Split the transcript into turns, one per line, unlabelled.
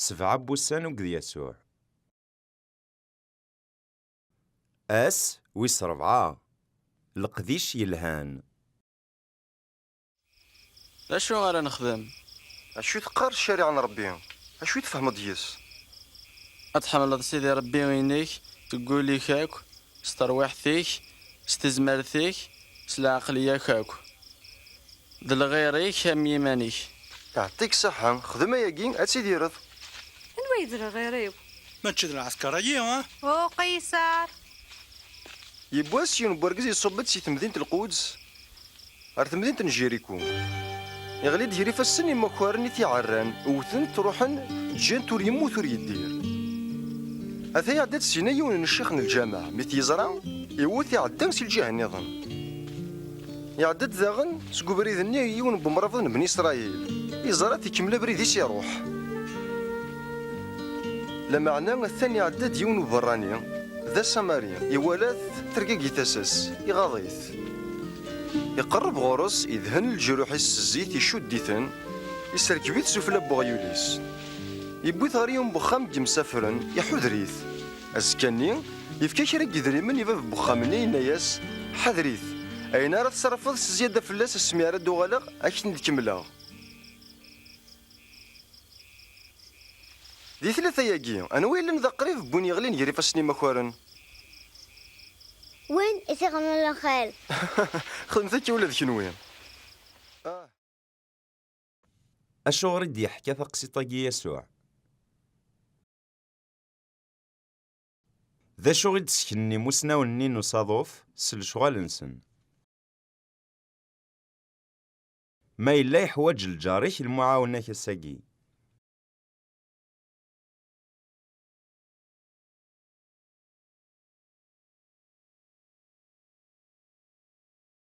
Sebɛa n wussan ugged Yasuɛ. Ass wis rebɛa. Leqdic yelhan. D acu ara nexdem? D acu i teqqar ccariɛa n Ṛebbi? D acu i tfehmeḍ deg-s? Ad tḥemmleḍ Sidi Ṛebbi-inek deg wul-ik akk, S terwiḥt-ik, s tezmert-ik, s lɛeqliya-k akk. D lɣir-ik am yiman-ik. Iɛeṭṭi-k ṣṣeḥḥa, xdem ayagi ad tidireḍ. Anwa ay d lɣir-iw? Mačči d lɛesker-agi, ah? Uqisar! Yiwwas, yiwen n wergaz iṣubb-d si temdint Lquds. Ar temdint n Jiriku. Iɣli-d ger ifassen imakaren i t-iɛerran, wwten-t, ruḥen, ǧǧan-t ur yemmut ur yeddir. Ata iɛedda-d syin yiwen n ccix n lǧameɛ, mi t-yeẓra, iwwet iɛedda si lǧiha nniḍen. Iɛedda-d daɣen seg ubrid-nni yiwen n wemrabeḍ n Bni Isṛayil, iẓra-t ikemmel abrid-is iruḥ. Lameɛna atan iɛedda-d yiwen n uberrani, d asamari, iwala-t, tergagi tasa-s, iɣaḍ-it. Iqerreb ɣur-s, idhen leǧruḥ-is s zzit, icudd-iten, iserkeb-it sufella n weɣyul-is. Iwwi-t ɣer yiwen n wexxam n yemsafren, iḥuder-it. Azekka-nni, yefka kra n yedrimen i bab n wexxam-nni, yenna-as, Ḥader-it, ayen ara tsarfeḍ s zyada fell-as asmi ara d-uɣaleɣ, ad k-ten-id-kemmleɣ. Di tlata-agi, anwa yellan d aqrib n win yeɣlin gar ifassen imakaren? Win i t-ixedmen lxir. Xedmet akka ula d kenwi. Acuɣer i d-yeḥka taqsiṭ-agi Yasuɛ? D acu i d-sseknen imusnawen-nni n usaḍuf s lecɣal-nsen? Ma yella yeḥwaj lǧar-ik lmuɛawna-k ass-agi.